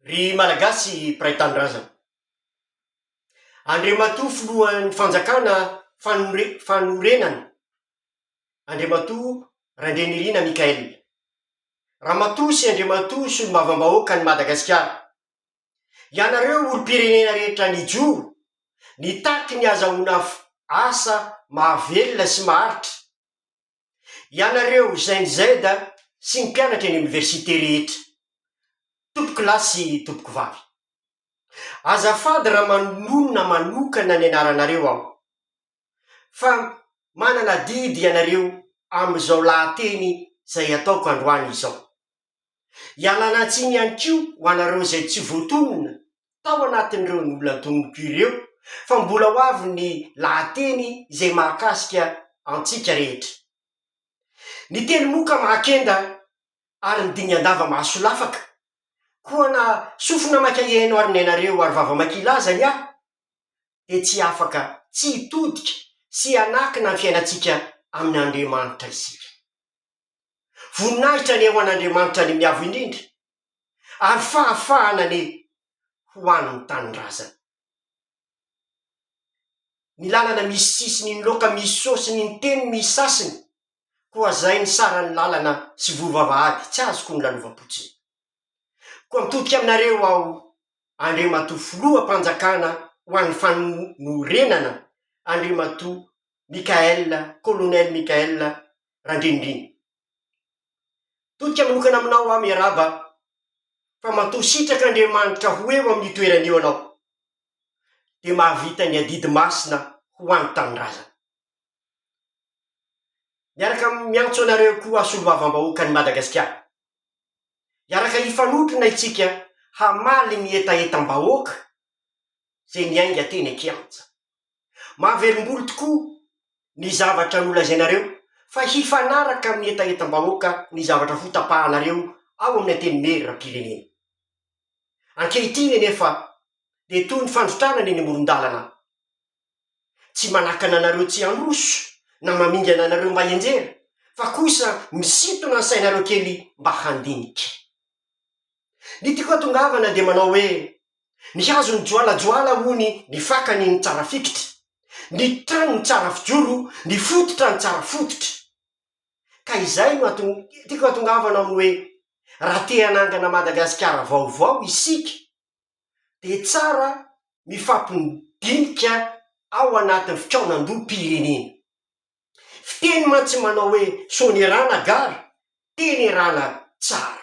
Ry Malagasy mpiray tanindrazana. Andriamatoa Filohan'ny Fanjakana fanore- fanorenana, Andriamatoa Randrianirina Michael, Ramatoa sy Andriamatoa Solombavambahoakan'i Madagasikara, ianareo olom-pirenena rehetra nijoro, nitaky ny hazahoana asa mahavelona sy maharitra, Ianareo Gen Z sy ny mpianatra eny oniversite rehetra, tompoko lahy sy tompoko vavy. Azafady raha manonona manokana ny anaranareo aho, fa manana adidy ianareo amin'izao lahateny izay ataoko androany izao. Ialana tsiny ihany koa ho anareo izay tsy voatonona tao anatin'ireo nolantoniko ireo fa mbola ho avy ny lahateny izay mahakasika antsika rehetra. Ny teny moa ka mahakenda ary ny dingan-dava mahasolafaka. Koa na sofina maika hihaino ary niainareo ary vava maika hilaza ny ahy dia tsy afaka tsy hitodika sy hanakina ny fiainantsika amin'Andriamanitra isika. Voninahitra anie ho an'Andriamanitra ny Miavo Indrindra, ary fahafahana anie ho an'ny tanindrazana. Ny lalana misy sisiny, ny loka misy sôsiny, ny teny misy sasiny, koa zay ny saran'ny lalana sy voa vavahady tsy azoko ny lalovam-potsiny. Koa mitodika aminareo aho, Andriamatoa Filoham-panjakana ho an'ny Fanorenana, Andriamatoa Michaël, Colonel Michaël Randriandriana. Todika manokana aminao aho miarahaba fa matoa sitraka Andriamanitra ho eo amin'io toerana io anao dia mahavita ny adidy masina ho any tanindrazana. Miaraka miantso anareo koa aho solombavambahoakan'i Madagasikara hiaraka hifanotrona isika hamaly ny hetahetam-bahoaka izay niainga teny an-kianja. Mahavelombolo tokoa ny zavatra nolazainareo fa hifanaraka amin'ny hetahetam-bahoaka ny zavatra ho tapahanareo ao amin'ny Antenimieram-pirenena. Ankehitriny anefa dia toy ny fandrotranana eny amoron-dalana. Tsy manakana anareo tsy handroso na mamingana anareo mba hianjera fa kosa misintona ny sainareo kely mba handinika. Ny tiako hatongavana dia manao hoe, ny hazo mijoalajoala hono ny fakany no tsara fikitra, ny trano no tsara fijoro, ny fototra no tsara fototra. Ka izay no hato, tiako hatongavana amin'ny hoe, raha te hanangana Madagasikara vaovao isika, dia tsara mifampindinika ao anatin'ny fikaonandoham-pirenena. Fiteny mantsy manao hoe, sonerana gara, tenerana tsara.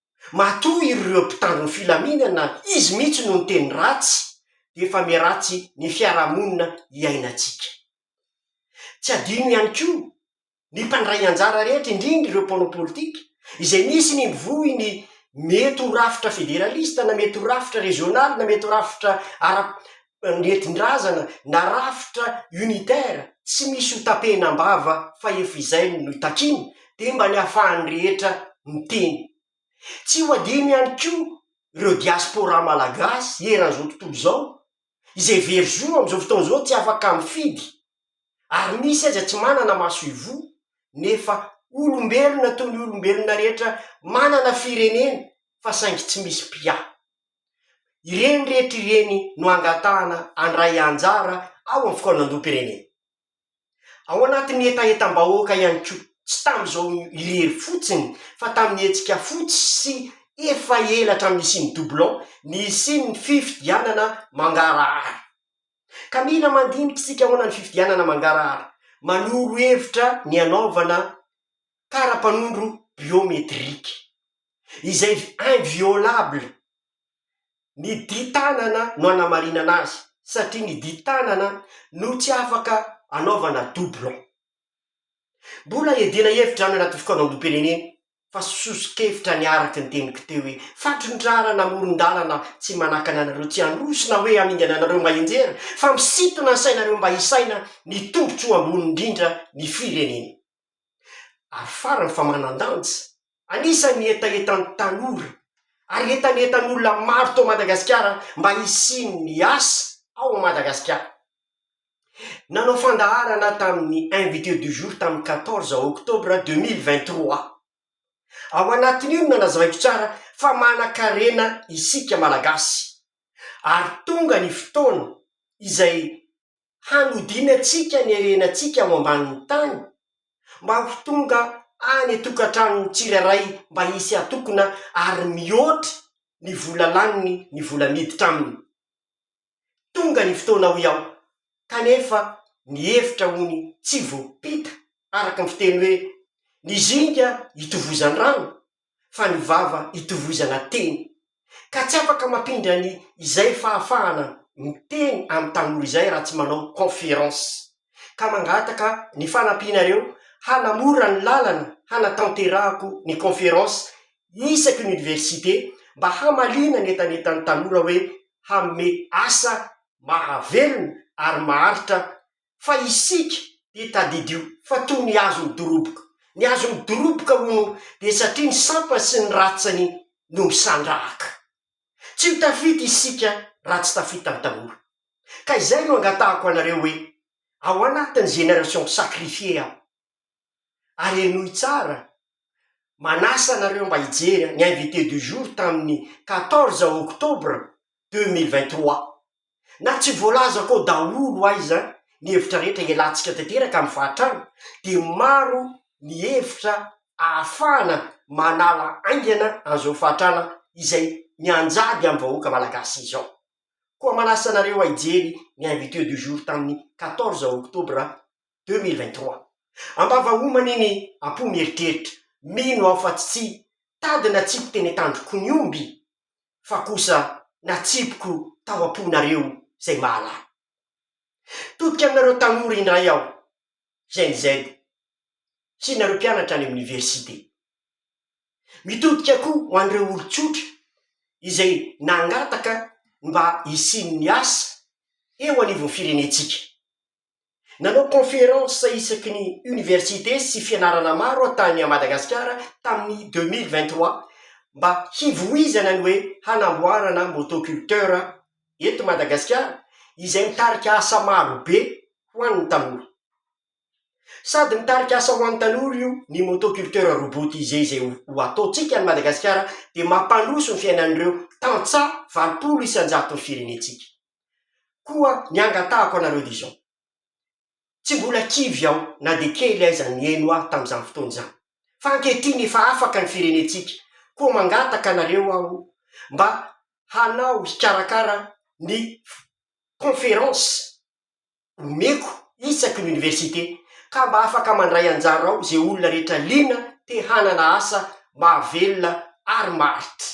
Matoa ireo mpitandro ny filaminana izy mihitsy no niteny ratsy dia efa miharatsy ny fiarahamonina iainantsika. Tsy adino ihany koa ny mpandray anjara rehetra indrindra ireo mpanao politika izay misy ny mivoy ny mety ho rafitra federalista na mety ho rafitra rezionaly na mety ho rafitra ara nentin-drazana na rafitra unitaire tsy misy ho tapehina am-bava fa efa izay no takiana dia mba ny ahafahan'ny rehetra miteny. Tsy ho adino ihany koa ireo diaspora malagasy eran'izao tontolo izao izay very zo amin'izao fotoana izao tsy afaka mifidy ary misy aza tsy manana maso ivoho nefa olombelona toy ny olombelona rehetra manana firenena fa saingy tsy misy mpiahy. Ireny rehetra ireny no angatahana handray anjara ao amin'ny fikaonandoham-pirenena. Ao anatin'ny hetahetam-bahoaka ihany koa, tsy tamin'izao irery fotsiny fa tamin'ny hetsika fotsy sy efa ela hatramin'ny nisian'ny doublon, ny hisian'ny fifidianana mangarahara. Ka mila mandinika isika ahoana ny fifidianana mangarahara, manoro hevitra ny hanaovana kara-panondro biometrika, izay inviolable. Ny di-tanana no anamarinana azy, satria ny di-tanana no tsy afaka anaovana doublon. Mbola hiadiana hevitra any anaty fikaonandoham-pirenena, fa soso-kevitra ny araka ny teniko teo hoe, fandrondràna na moron-dàlana tsy manakana anareo tsy handroso na hoe hamingana anareo mba hianjera, fa misintona ny sainareo mba hisaina ny tombotsoa ambony indrindra ny firenena. Ary farany fa manan-danja, anisan'ny hetahetan'ny tanora ary hetanetan'olona maro tao Madagasikara mba hisian'ny asa ao Madagasikara. Nanao fandaharana tamin'ny invité du jour tamin'ny quatorze octobre deux mille vingt trois aho. Ao anatin'io no nanazavaiko tsara fa manan-karena isika Malagasy ary tonga ny fotoana izay hanodinantsika ny harenantsika ao ambanin'ny tany mba ho tonga any an-tokantranon'ny tsirairay mba hisy hatokona ary mihoatra ny vola laniny ny vola miditra aminy. Tonga ny fotoana hoy aho kanefa ny hevitra ony tsy voapita araka ny fiteny hoe ny zinga itovozan'ny rano fa ny vava itovoizana teny, ka tsy afaka mampindra ny izay fahafahana miteny amin'ny tanora izay raha tsy manao conférence, ka mangataka ny fanampianareo hanamora ny lalana hanatanterahako ny conférence isaky ny université mba hamaliana ny entanetan'ny tanora hoe hanome asa mahavelona ary maharitra fa isika dia tadidio fa toy ny hazo midoroboka. Ny hazo midoroboka, hono, dia satria ny sampany sy ny ratsany no misandrahaka. Tsy ho tafita isika raha tsy tafita ny tanora. Ka izay no angatahako anareo hoe, ao anatin'ny génération sacrifiée aho. ary henoy tsara, manasa anareo mba hijery ny invité du jour tamin'ny quatorze octobre deux mille vingt trois, na tsy voalazako ao daholo aiza ny hevitra rehetra ialatsika tanteraka amin'ny fahatrana dia maro ny hevitra ahafahana manala aingana an'izao fahatrana izay mianjady amin'ny vahoaka malagasy izao, koa manasa anareo hijery ny invité du jour tamin'ny quatorze octobre deux mille vingt trois. Am-bava homana iny am-po mieritreritra, mino aho fa tsy tady natsipiko teny an-tandroko ny omby fa kosa natsipiko tao am-ponareo izay mahalala. Todika aminareo tanora indray aho, Gen Z, sy nareo mpianatra any amin'ny niversite. Mitodika koa ho an'ireo olon-tsotra izay nangataka ny mba hisian'ny asa eo anivon'ny firenentsika. Nanao conférence isaky ny université sy fianarana maro aho tany Madagasikara tamin'ny deux mille vingt trois mba hivoizana ny hoe hanamboarana motoculteur eto Madagasikara izay mitarika asa maro be ho an'ny tanora. Sady mitarika asa ho an'ny tanora io ny motoculteur robotisé izay ho ataontsika any Madagasikara dia mampandroso ny fiainan'ireo tantsaha valopolo isan-jaton'ny firenentsika. Koa ny angatahako anareo dia izao, tsy mbola kivy aho na dia kely aiza nihaino ahy tamin'izany fotoana izany, fa ankehitriny efa afaka ny firenentsika, koa mangataka anareo aho mba hanao hikarakara ny conférence omeko isaky ny université, ka mba afaka mandray anjara ao izay olona rehetra liana te hanana asa mahavelona ary maharitra.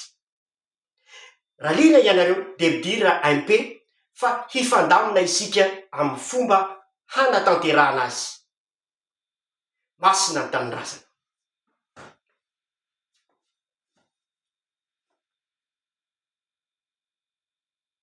Raha liana ianareo dia midira MP fa hifandamina isika amin'ny fomba hanatanterahana azy. Masina ny Tanindrazana.